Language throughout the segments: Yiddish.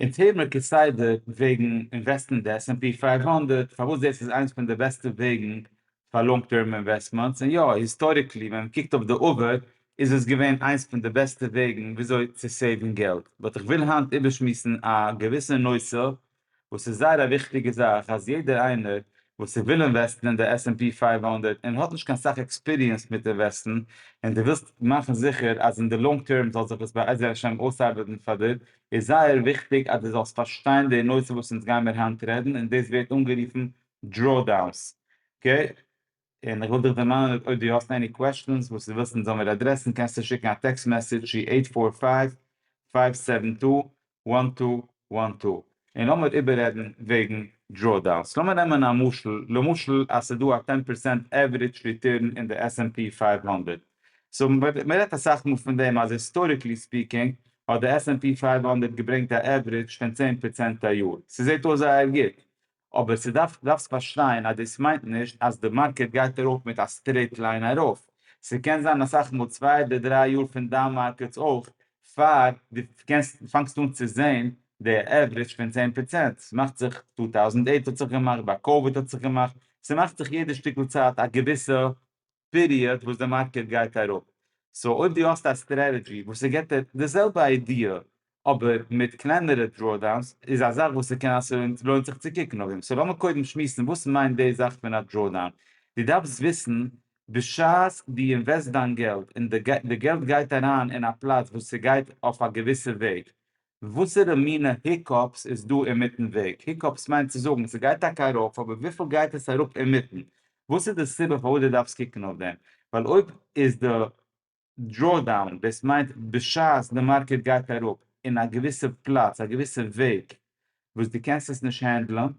און טעמע כסדר וועגן אינוועסטן די עס ענד פי פֿינף הונדערט פארוואס דאס איז איינס פון די בעסטע וועגן פאר לאנג טערם אינוועסטמענטס און יא היסטאריקלי ווען מען קוקט אויף די עבר איז עס געווען איינס פון די בעסטע וועגן וויאזוי צו סעיוון געלט באט איך וויל היינט איבערשמועסן א געוויסע נושא וואס איז זייער א וויכטיגע זאך אז יעדער איינער וואס איז וויל אינוועסטן אין די עס ענד פי פֿינף הונדערט און האט נישט קיין סאך עקספיריענס מיט אינוועסטן און די ווילסט מאכן זיכער אז אין די לאנג טערם זאל זיך עס בעזר השם אויסארבעטן פאר דיר איז זייער וויכטיג אז דו זאלסט פארשטיין די נושא וואס אונז גיימיר היינט רעדן און דאס ווערט אנגערופן דראודאונס אקעי, און איך וויל דיך דערמאנען אויב דו האסט עני קוועשטענס וואס דו ווילסט אונז זאל מיר אדרעסן קענסטו שיקן א טעקסט מעסעדזש צו עיט פאר פייוו פייוו סעווען טו וואן טו וואן טו און לאמיר איבעררעדן וועגן דראודאונס, לאמיר נעמען א משל, למשל אז ס'דא א טען פערסענט עווערידזש ריטורן אין די עס ענד פי פייוו הונדערט, סאו מען רעדט אסאך מאל פון דעם אז היסטאריקלי ספיקינג האט די עס ענד פי פֿינף הונדערט געברענגט א עוורידזש פון צען פראצענט א יאר, ס'זעט אויס זייער גוט, אבער ס'דארף דארפסט פארשטיין אז דאס מיינט נישט אז די מארקעט גייט ארויף מיט א סטרעיט ליין ארויף, ס'קען זיין אסאך מאל צוויי אדער דריי יאר פון דאון מארקעטס אויך פאר דו קענסט פאנגסט אן צו זען די עוורידזש פון צען פראצענט, ס'מאכט זיך טו טאוזענט עיט האט זיך געמאכט, ביי קאוויד האט זיך געמאכט, ס'מאכט זיך יעדע שטיקל צייט א געוויסע פיריעד וואס די מארקעט גייט אראפ, סאו אויב דו האסט א סטרעטעדזשי וואס ס'געבט דיר די זעלבע איידיע אבער מיט קלענערע דראודאונס איז א זאך וואס ס'קען אז ס'לוינט זיך צו קוקן אויף דעם, סאו לאמיר קודם שמועסן וואס מיינט די זאך פון א דראודאון, דו דארפסט וויסן בשעת דו אינוועסט דיין געלט און די געלט גייט אריין אין א פלאץ וואס ס'גייט אויף א געוויסע וועג וואסערע מינע היקאפס איז דא אינמיטן וועג? היקאפס מיינט צו זאגן ס'גייט טאקע ארויף אבער וויפיל גייט עס אראפ אינמיטן? וואס איז די סיבה פארוואס דו דארפסט קוקן אויף דעם? ווייל אויב איז די דראודאון דאס מיינט בשעת די מארקעט גייט אראפ אין א געוויסע פלאץ א געוויסע וועג וואס דו קענסט עס נישט הענדלען,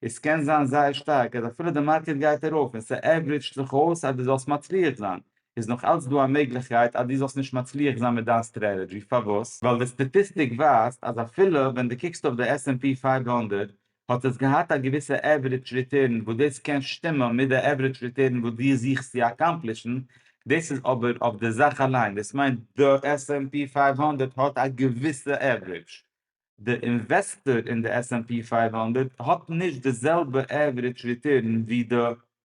און ס'קען זיין זייער שטארק אז אפילו די מארקעט גייט ארויף און ס'עוורידזשט זיך אויס אז דו זאלסט מצליח זיין, איז נאך אלץ דא א מעגליכקייט אז דו זאלסט נישט מצליח זיין מיט דיין סטרעטעדזשי, פארוואס? ווייל די סטאטיסטיק ווייזט אז אפילו ווען דו קוקסט אויף די עס ענד פי פייוו הונדערט האט עס געהאט א געוויסע עוורידזש ריטערן וואס דאס קען שטימען מיט די עוורידזש ריטערן וואס דו זוכסט צו אקאמפלישן, דאס איז אבער אויף די זאך אליין, דאס מיינט די עס ענד פי פייוו הונדערט האט א געוויסע עוורידזש, די אינוועסטאר אין די עס ענד פי פֿינף הונדערט האט נישט די זעלבע עווערידזש ריטורן ווי די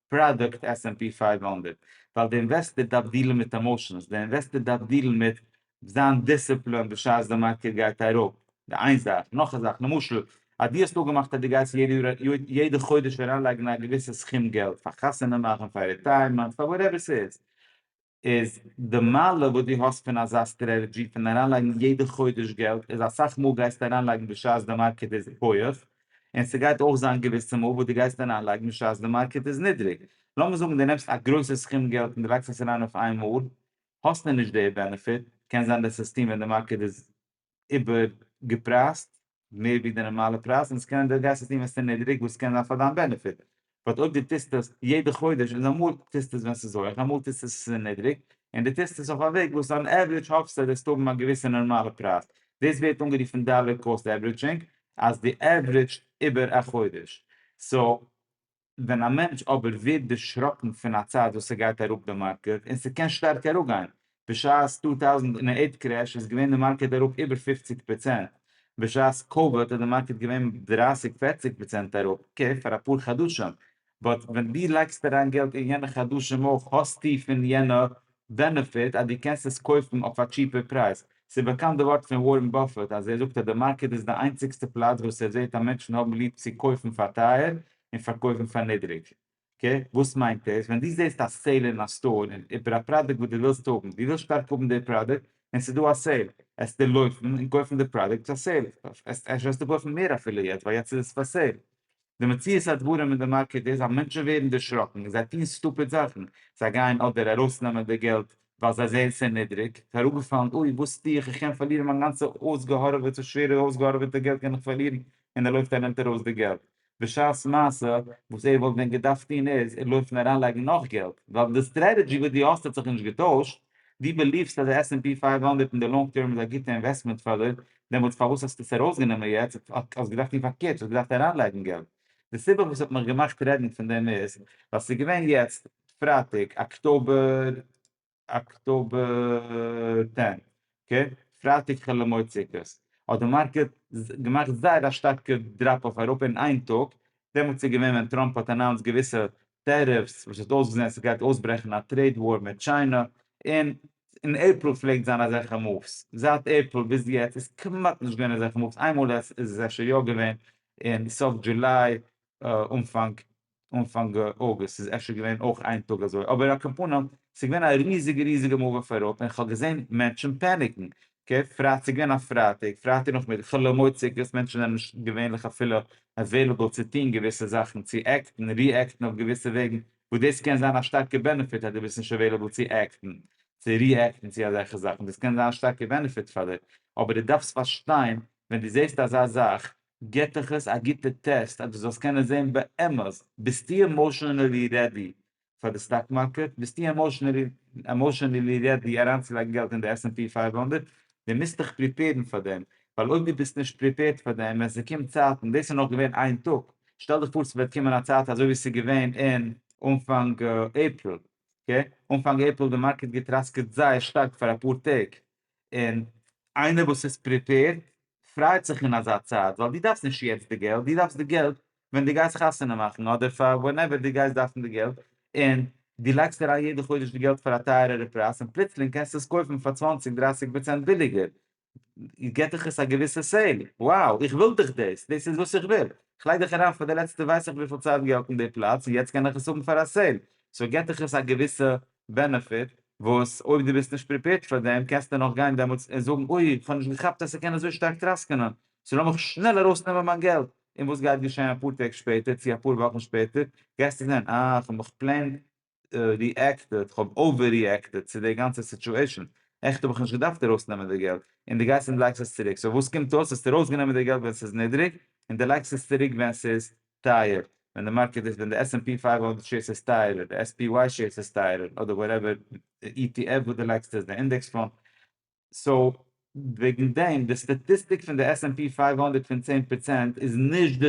פראדוקט עס ענד פי פֿינף הונדערט, ווייל די אינוועסטאר דארף דילן מיט עמאושענס, די אינוועסטאר דארף דילן מיט זיין דיסציפלין בשעת די מארקעט גייט אראפ, די איין זאך, נאך א זאך, למשל אז דו האסט אפגעמאכט אז דו גייסט יעדע חודש אריינלייגן א געוויסע סכום געלט, פאר חתונה מאכן, פאר רעטייערמענט, פאר וואטעווער ס'איז, איז די מעלה וואס דו האסט פון אזא סטרעטעדזשי פון אריינלייגן יעדע חודש געלט איז אסאך מאל גייסטו אריינלייגן בשעת די מארקעט איז הויעך און ס'גייט אויך זיין געוויסע מאל וואס דו גייסט אריינלייגן בשעת די מארקעט איז נידריג לאמיר זאגן דו נעמסט א גרויסע סכום געלט און דו לייגסט עס אריין אויף איינמאל האסטו נישט די בענעפיט קען זיין די סיסטעם ווען די מארקעט איז איבער געפרייזט מער ווי די נארמאלע פרייז און עס קען די גייסט עס טון ווען ס'איז נידריג וואס קען זיין פאר דיין בענעפיט באט אויב די טוסט עס יעדע חודש איז אמאל טוסטו עס ווען ס'איז הויעך אמאל טוסטו עס ווען ס'איז נידריג און די טוסט עס אויף א וועג וואס אן עוורידזש האפסטו אז וועסט האבן א געוויסע נארמאלע פרייז דאס ווערט אנגערופן דאלער קאסט עוורידזשינג אז דו עוורידזשט איבער א חודש סאו ווען א מענטש אבער ווערט דערשראקן פון א צייט וואס ס'גייט אראפ די מארקעט, און ס'קען שטארק אראפגיין, בשעת טו טויזנט און אייט קרעש איז געווען די מארקעט אראפ איבער פופציג פראצענט, בשעת קאוויד איז די מארקעט געווען דרייסיג פערציג פראצענט אראפ, אקעי פאר אפאר חדשים, באט ווען דו לייגסט אריין געלט אין יענע חדשים אויך האסטו פון יענע בענעפיט אז דו קענסט עס קויפן אויף א טשיפער פרייז. ס'איז באקאנט די ווארט פון ווארען באפעט אז ער זאגט אז די מארקעט איז די איינציגסטע פלאץ וואס ער זעט אז מענטשן האבן ליב צו קויפן פאר טייער און פארקויפן פאר נידריג. קעי, וואס מיינט דאס? ווען דו זעסט א סעיל אין א סטאר און איבער א פראדוקט וואס דו ווילסט האבן, דו ווילסט שטארק האבן די פראדוקט און ס'איז דא א סעיל, עסט דו לויפן און קויפן די פראדוקט פאר סעיל, עסט עסט וועסטו קויפן מער אפילו יעצט ווייל יעצט איז עס פאר סעיל. די מציאות הדברים אין די מארקעט איז אז מענטשן ווערן דערשראקן, זיי טוהן סטופיד זאכן, זיי גייען אדער ארויסנעמען די געלט ווייל זיי זעהן ס'איז נידריג, ס'איז אראפגעפאלן, אוי וואס טוה איך, איך קען פארלירן מיין גאנצע אויסגעהארעוועטע, שווערע אויסגעהארעוועטע געלט קען איך פארלירן, און ער לויפט ער נעמט ארויס די געלט, בשעת מעשה וואס ער וואלט ווען געדארפט טוהן איז ער לויפן אריינלייגן נאך געלט, ווייל די סטרעטעדזשי וואס דו האסט האט זיך נישט געטוישט, דו בעליוו'סט אז די עס ענד פי פֿינף הונדערט אין די לאנג טערם איז א גוטע אינוועסטמענט פאר די דעמאלטס פארוואס האסטו עס ארויסגענומען יעצט? האסט געדארפט טון פארקערט, דו האסט געדארפט אריינלייגן געלט. די סיבה וואס האט מיך געמאכט רעדן פון דעם איז, ווייל ס'איז געווען יעצט פרייטאג אקטאבער אקטאבער טען, אקעי? פרייטאג חול המועד סוכות, האט די מארקעט געמאכט זייער א שטארקע דראפ אויף אייראפע אין איין טאג, דעמאלטס איז געווען ווען טראמפ האט אנאונסד געוויסע טעריפס וואס האט אויסגעזען עס גייט אויסברעכן א טרעיד וואר מיט טשיינע און אין עיפריל פלעגט זיין אזעלכע מאווס זייט עיפריל ביז יעצט איז כמעט נישט געווען אזעלכע מאווס איינמאל איז עס אפשר יא געווען אין סוף דזשוליי אנפאנג אנפאנג אוגוסט איז אפשר געווען אויך איין טאג אזוי אבער על כל פנים ס'איז געווען א ריזיגע ריזיגע מאוו אויף אראפ און כ'האב געזען מענטשן פעניקן אקעי, פרייטאג איז געווען א פרייטאג, פרייטאג נאכמיטאג חול המועד סוכות, מענטשן זענען נישט געווענליך אפילו עוועילעבל צו טון געוויסע זאכן, צו עקטן, ריעקטן אויף געוויסע וועגן, וואס דאס קען זיין א שטארקע בענעפיט אז דו ביסט נישט עוועילעבל צו עקטן, צו ריעקטן צו אזעלכע זאכן, דאס קען זיין א שטארקע בענעפיט פאר דיר, אבער דו דארפסט פארשטיין, ווען דו זעסט אזא זאך, גיבט דיך עס א גוטע טעסט אז דו זאלסט קענען זען באמת, ביסטו עמאשענעלי רעדי פאר די סטאק מארקעט, ביסטו עמאושענעלי רעדי אריינצולייגן געלט אין די עס ענד פי פייוו הונדערט, דו מוזט דיך פריפעירן פאר דעם, ווייל אויב דו ביסט נישט פריפעירט פאר דעם ווען ס'קומט צייט, און דאס איז נאך געווען איין טאג, שטעל דיך פאר ס'וועט קומען א צייט אזוי ווי ס'איז געווען אין אנפאנג עפריל, אקעי, אנפאנג עפריל די מארקעט געטראסקעט זייער שטארק פאר אפאר טעג, און איינער וואס איז פריפעירט פרייט זיך אין אזא צייט, ווייל דו דארפסט נישט יעצט די געלט, דו דארפסט די געלט ווען דו גייסט חתונה מאכן אדער פאר ווענעווער דו גייסט דארפן די געלט און דו לייגסט אריין יעדע חודש די געלט פאר א טייערערע פרייז און פלוצלינג קענסטו עס קויפן פאר צוואַנציק דרייסיג פראצענט ביליגער געט דיך עס א געוויסע סעיל, wow איך וויל דאך דאס, דאס איז וואס איך וויל, איך לייג דאך אריין פאר די לעצטע ווייס איך וויפיל צייט געלט אין די פלאץ און יעצט קען עס האבן פאר א סעיל, סאו געט דיך עס א געוויסע בענעפיט וואס אויב דו ביסט נישט פריפעירד פאר דעם קענסטו נאך גיין דעמאלטס און זאגן אוי איך האב נישט געכאפט אז ס'קען אזוי שטארק טראסקענען סאו לאמיך שנעל ארויסנעמען מיין געלט און וואס גייט געשען אפאר טעג שפעטער צו אפאר וואכן שפעטער? גייסטו זען, אה, איך האב מיך פלעין ריעקטעד, איך האב אווער ריעקטעד צו די גאנצע סיטועשאן, עכט האב איך נישט געדארפט ארויסנעמען די געלט, און דו גייסט און לייגסט עס צוריק, סאו וואס קומט אויס? האסט ארויסגענומען די געלט ווען ס'איז נידריג, און דו לייגסט עס צוריק ווען ס'איז טייער, ווען די מארקעט איז, ווען די עס ענד פי פֿינף הונדערט שעירס איז טייערער, די עס פי וואי שעירס איז טייערער, אדער וואטעווער אי טי עף וואס דו לייגסט עס, די אינדעקס פאנד, סאו וועגן דעם, די סטאטיסטיק פון די עס ענד פי פייוו הונדערט פון צען פראצענט איז נישט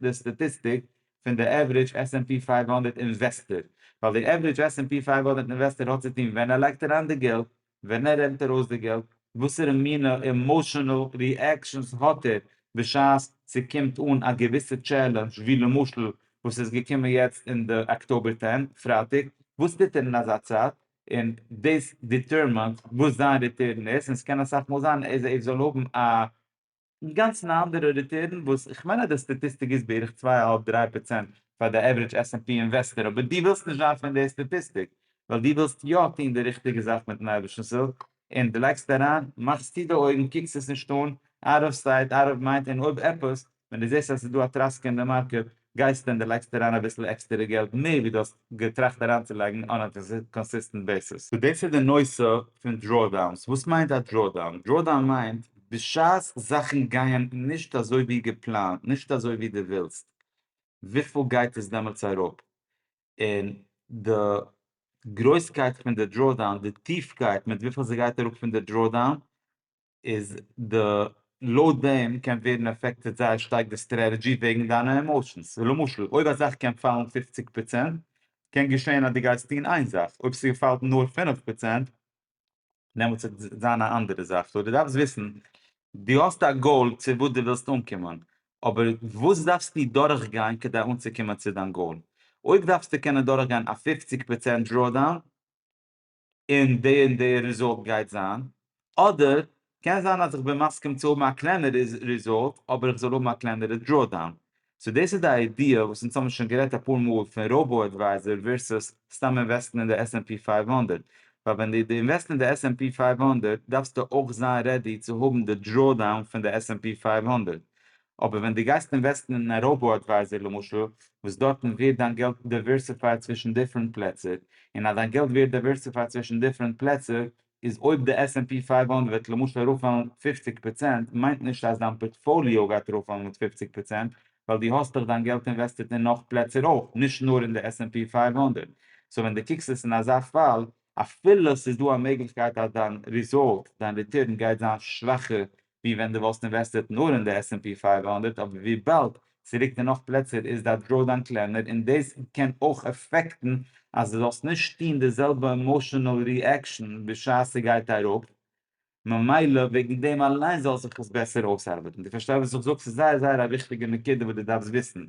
די סטאטיסטיק פון די עווערידזש עס ענד פי פייוו הונדערט אינוועסטער, ווייל די עווערידזש עס ענד פי פייוו הונדערט אינוועסטער האט צו טון ווען ער לייגט אריין די געלט, ווען ער נעמט ארויס די געלט, וואסערע מינע אימאשענעל ריעקשאנס האט ער בשעת ס'קומט אן א געוויסע טשעלענדזש ווי למשל וואס איז געקומען יעצט אין די אקטאבער טען, פרייטאג, וואס טוט ער אין אזא צייט? און דאס דיטערמינט וואס זיין ריטערן איז, און ס'קען אסאך מאל זיין אז ער זאל האבן א אינגאנצן א אנדערע ריטערן וואס, כ'מיין אז די סטאטיסטיק איז בערך צוויי אהאלב דריי פראצענט פאר די עווערידזש עס ענד פי אינוועסטער, אבער דו ווילסט נישט ווייזן די סטאטיסטיק, ווייל דו ווילסט יא טון די ריכטיגע זאך מיטן אייבערשטנ'ס הילף, און דו לייגסט אריין, מאכסטו די אויגן, קוקסט עס נישט אן, אאוט אוו סייט אאוט אוו מיינד, און אויב עפעס, ווען דו זעסט אז עס איז דא א טראסקע אין די מארקעט גייסטו און דו לייגסט אריין אביסל עקסטערע געלט מער ווי דו האסט געטראכט אריינצולייגן אן א קאנסיסטענט בעיסיס. דאס איז די נושא פון דראודאונס. וואס מיינט א דראודאון? דראודאון מיינט בשעת זאכן גייען נישט אזוי ווי געפלאנט, נישט אזוי ווי דו ווילסט, וויפיל גייט עס דעמאלטס אראפ? און די גרויסקייט פון די דראודאון, די טיפקייט מיט וויפיל ס'גייט אראפ פון די דראודאון, איז די לויט דעם קען ווערן אפעקטעד זייער שטארק די סטרעטעדזשי וועגן דיינע עמאושענס ווי למשל אויב א זאך קען פאלן פופציג פראצענט קען געשען אז די גייסט טון איין זאך אויב ס'פאלט נאר פינף פראצענט דעמאלטס וועט זיין א אנדערע זאך סאו די דארפסט וויסן די האסט א גאול צו וואס די ווילסט אנקומען אבער וואס דארפסטו דורך גיין כדי אנצוקומען צו דיין גאול אויב דארפסטו קענען דורך גיין א פופציג פראצענט דראו דאון און די און די ריזאלט גייט זיין, אדער קען זיין אז איך בין מסכים צו האבן א קלענערע ריזאלט אבער איך זאל האבן א קלענערע דראודאון. סאו דאס איז די איידיע וואס אונז האבן שוין גערעדט אפאר מאל פון ראובא עדווייזער ווערסוס סתם אינוועסטן אין די עס ענד פי פייוו הונדערט, ווייל ווען דו אינוועסט אין די עס ענד פי פייוו הונדערט דארפסטו אויך זיין רעדי צו האבן די דראודאון פון די עס ענד פי פייוו הונדערט, אבער ווען דו גייסט אינוועסטן אין א ראובא אדווייזער למשל, וואס דארטן ווערט דיין געלט דעווירסיפייד צווישן דיפרענט פלעצער, און אז דיין געלט ווערט דעווירסיפייד צווישן דיפרענט פלעצער, איז אויב די עס ענד פי פייוו הונדערט וועט למשל ארויפפאלן פֿופֿציק פראצענט, מיינט נישט אז דיין פארטפאליאו גייט ארויפפאלן מיט פֿופֿציק פראצענט, ווייל דו האסטעך דיין געלט אינוועסטעט אין נאך פלעצער אויך, נישט נאר אין די עס ענד פי פייוו הונדערט. סאו ווען דו קוקסט עס אין אזא פאל, אפילו ס'איז דא א מעגליכקייט אז דיין ריזאלט, דיין ריטורן גייט זיין שוואכער ווי ווען דו וואלסט אינוועסטעט נאר אין די עס ענד פי פֿינף הונדערט, אבער וויבאלד ס'רוקט אין נאך פלעצער איז דיין דראודאון קלענער און דאס קען אויך אפעקטן אז דו זאלסט נישט טון די זעלבע עמאשענעל ריעקשאן בשעת ס'גייט אראפ, ממילא וועגן דעם אליין זאל זיך עס בעסער אויסארבעטן. דו פארשטייסט וואס איך זאג? ס'איז זייער זייער א וויכטיגע נקודה וואס דו דארפסט וויסן.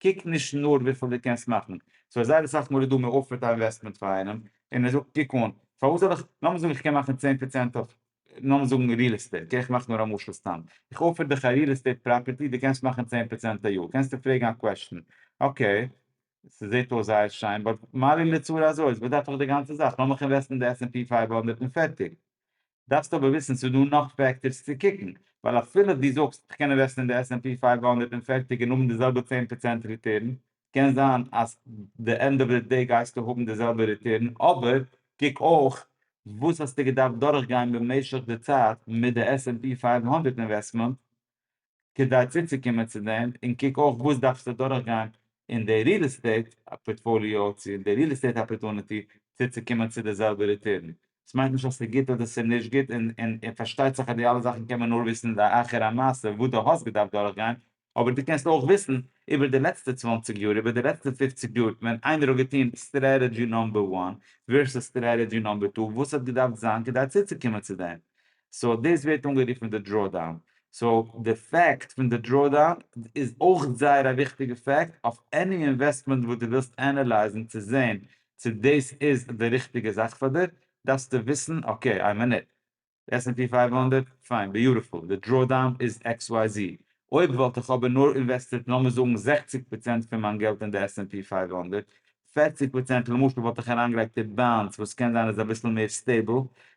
קוק נישט נאר וויפיל דו קענסט מאכן. סארי זייער אסאך מאל איז דא מ'אפערט א אינוועסטמענט פאר איינעם און ער זאגט קוק אן, פארוואס זאל איך, לאמיר זאגן איך קען מאכן צען פראצענט אויף לאמיר זאגן ריעל עסטעיט, איך מאך נאר א משל סתם, איך אפער דיך א ריעל עסטעיט פראפערטי, דו קענסט מאכן צען פראצענט א יאר, קענסטו פרעגן א קוועשטן, אקעי, ס'זעט אויס זייער שיין, באט מה לי לצרה הזאת, וואס דארף איך די גאנצע זאך, לאמיך אינוועסטן אין די עס-ענד-פי פֿינף הונדערט און פערטיג. דארפסט אבער וויסן ס'איז דא נאך פעקטארס צו קוקן, ווייל אפילו דו זאגסט איך קען אינוועסטן אין די עס-ענד-פי פֿינף הונדערט און פערטיג און האבן די זעלבע צען פראצענט ריטערן, קען זיין אז די ענד אוו די דעי גייסטו האבן די זעלבע ריטורן, אבער קוק אויך וואס האסטו געדארפט דורכגיין במשך די צייט מיט די עס ענד פי פֿינף הונדערט אינוועסטמענט כדי צוצוקומען צו דעם, און קוק אויך וואס דארפסטו דורכגיין אין די ריעל עסטעיט פארטפאליאו צו אין די ריעל עסטעיט אפערטונעטי צוצוקומען צו די זעלבע ריטורן, עס מיינט נישט אז עס איז גוט אדער עס איז נישט גוט, און פארשטייט זיך אז די אלע זאכן קען מען נאר וויסן לאחר המעשה וואס דו האסט געדארפט דורכגיין, אבער דו קענסט אויך וויסן איבער די לעצטע צוואַנציק יאר, איבער די לעצטע פֿופֿציק יאר, ווען איינער האט געטון סטרעטעדזשי נאמבער וואן ווערסוס סטרעטעדזשי נאמבער טו, וואס האט געדארפט זיין כדי צוצוקומען צו דעם. סאו דאס ווערט אנגערופן די דראודאון. סאו די פעקט פון די דראודאון איז אויך זייער א וויכטיגע פעקט אויף עני אינוועסטמענט וואס דו ווילסט ענעלייזן צו זען צו דאס איז די ריכטיגע זאך פאר דיר, דארפסטו וויסן, אקעי, איין מינוט, די עס ענד פי פֿינף הונדערט, פיין, ביוטיפול, די דראודאון איז עקס וויי זי, אויב וואלט איך אבער נאר אינוועסטירט לאמיר זאגן זעכציק פראצענט פון מיין געלט אין די עס ענד פי פֿינף הונדערט, פערציג פראצענט למשל וואלט איך אריינגעלייגט אין באנדס וואס קען זיין איז אביסל מער סטעיבל,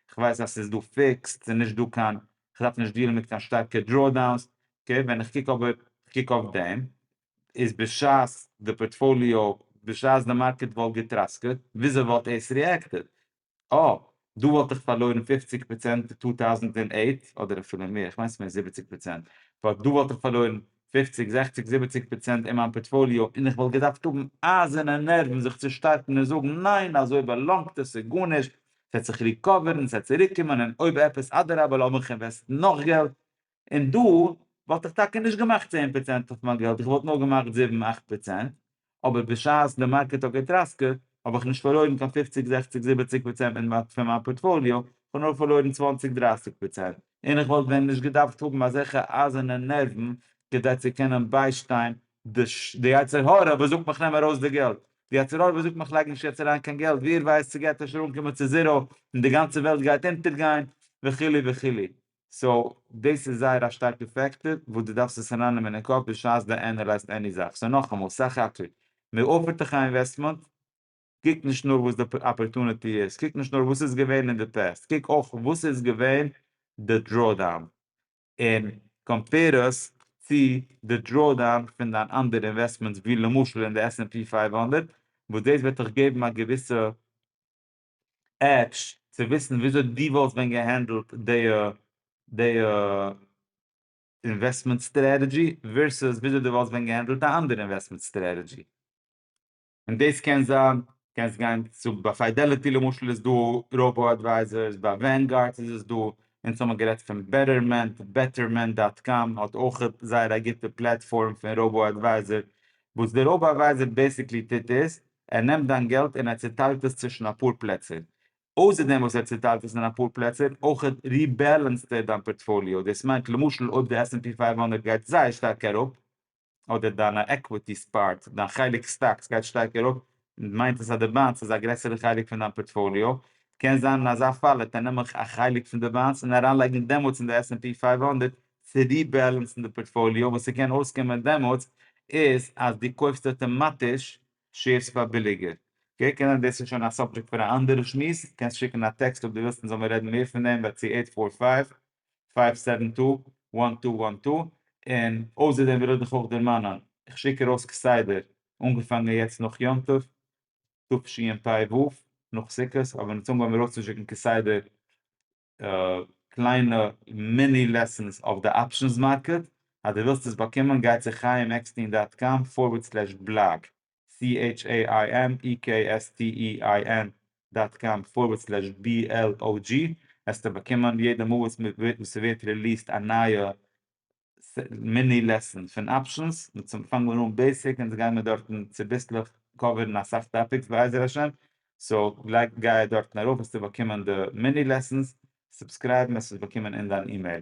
איך ווייס אז ס'איז דא פיקסד, ס'איז נישט דא קיין, איך דארף נישט דיעלן מיט קיין שטארקע דראודאונס, אקעי, ווען איך קוק אבער, איך קוק אויף דעם, איז בשעת די פארטפאליאו, בשעת די מארקעט וואלט געטראסקעט, וויאזוי וואלט עס ריעקטעד? אה, דא וואלט איך פארלוירן פופציג פראצענט אין טו טאוזנט און עיט, אדער אפילו מער, כ'מיין ס'מער זיבעציג פראצענט, באט דא וואלט איך פארלוירן פופציג, זעכציג, זיבעציג פראצענט אין מיין פארטפאליאו, און איך וואלט געדארפט האבן אייזערנע נערוון זיך צו שטארקן און זאגן, ניין, אזוי באלאנגט עס, ס'איז גארנישט, ס'וועט זיך ריקאווערן, ס'וועט צוריקקומען, און אויב עפעס, אדרבה, לאמיך אינוועסטן נאך געלט, און דא וואלט איך טאקע נישט געמאכט צען פראצענט אויף מיין געלט, איך וואלט נאר געמאכט זיבן אכט פראצענט, אבער בשעת די מארקעט האט געטראסקעט האב איך נישט פארלוירן קיין פופציג זעכציג זיבעציג פראצענט פון מיין פארטפאליאו, איך האב נאר פארלוירן צוואנציג דרייסיג פראצענט, און איך וואלט ווען נישט געדארפט האבן אזעלכע אייזערנע נערוון כדי צו קענען ביישטיין די יצר הרע וואס זאגט מיך נעם ארויס די געלט, די יצר הרע וואס זאגט מיך לייג נישט יעצט אריין קיין געלט, ווער ווייסט ס'גייט אפשר אנקומען צו זיראו און די גאנצע וועלט גייט אונטערגיין וכו' וכו'. סאו דאס איז זייער א שטארקע פעקטאר וואס דו דארפסט עס ארייננעמען אין קאפ בשעת דו ענעלייזט עני זאך. סאו נאכאמאל, סך הכל, מען אפערט דיך א אינוועסטמענט, קוק נישט נאר וואס די אפערטוניטי איז, קוק נישט נאר וואס איז געווען אין די פעסט, קוק אויך וואס איז געווען די דראודאון, און קאמפעיר עס צו די דראודאון פון דיין אנדערע אינוועסטמענטס ווי למשל אין די עס ענד פי פֿינף הונדערט, וואס דאס וועט דיך געבן א געוויסע עטש צו וויסן וויאזוי דו וואלסט ווען געהענדלט די די אינוועסטמענט סטרעטעדזשי ווערסעס וויאזוי דו וואלסט ווען געהענדלט א אנדערע אינוועסטמענט סטרעטעדזשי. און דאס קען זיין, קענסט גיין צו ביי פיידעליטי למשל איז דא ראובא אדווייזערס, ביי ווענגארד איז עס דא, אונז האבן גערעדט פון בעטערמענט, Betterment דאט קאם האט אויך זייער א גוטע פלעטפארם פון ראובא אדווייזער, וואס די ראובא אדווייזער בעסיקלי טוט איז, ער נעמט דיין געלט און ער צעטיילט עס צווישן אפאר פלעצער. אויסער דעם וואס ער צעטיילט עס אין אפאר פלעצער, אויך ריבעלענסד ער דיין פארטפאליאו. דאס מיינט למשל אויב די עס ענד פי פֿינף הונדערט גייט זייער שטארק אראפ, אדער דיינע עקוויטיס פארט, דיין חלק סטאקס גייט שטארק אראפ, מיינט עס אז די באנדס איז א גרעסערע חלק פון דיין פארטפאליאו. קען זיין אין אזא פאל העט ער נעמעך א חלק פון די באנדס און אריינלייגן דעמאלטס אין די עס ענד פי פֿינף הונדערט צו ריבעלענסן די פארטפאליאו, וואס ס'קען אויסקומען דעמאלטס איז אז דו קויפסט אויטאמאטיש שעירס פאר ביליגער. אקעי, קענען דאס איז שוין א סאבדזשעקט פאר א אנדערע שמועס, קענסט שיקן א טעקסט אויב דו ווילסט מ'זאל מיר רעדן מער פון דעם ביי צו עיט פאר פייוו, פייוו סעווען טו, וואן טו וואן טו, און אויסער דעם וויל איך דיך אויך דערמאנען, איך שיק ארויס כסדר, אנגעפאנגען יעצט נאך יום טוב תשפ ו, נאך סוכות, אבער אין צאנג האבן מיר אויסצושיקן כסדר קליינע מיני לעסענס אויף די אפשענס מארקעט, אז דו ווילסט עס באקומען גיי צו חיים עקסטין דאט קאם פארווערד סלעש בלאג, CHAIMEKSTEIN דאט קאם פארווערד סלעש BLOG, העסטו באקומען יעדע מאל וואס ס'ווערט רעליסט א נייע מיני לעסען פון אפשענס, צום פאנגן מיר אן בעיסיק און גיימיר דארטן צוביסלעך קאווערן אסאך טאפיקס בעזר השם, סאו גלייך גיי דארטן ארויף וועסטו באקומען די מיני לעסענס, סובסקרייבן וועסט עס באקומען אין דיין אימעיל.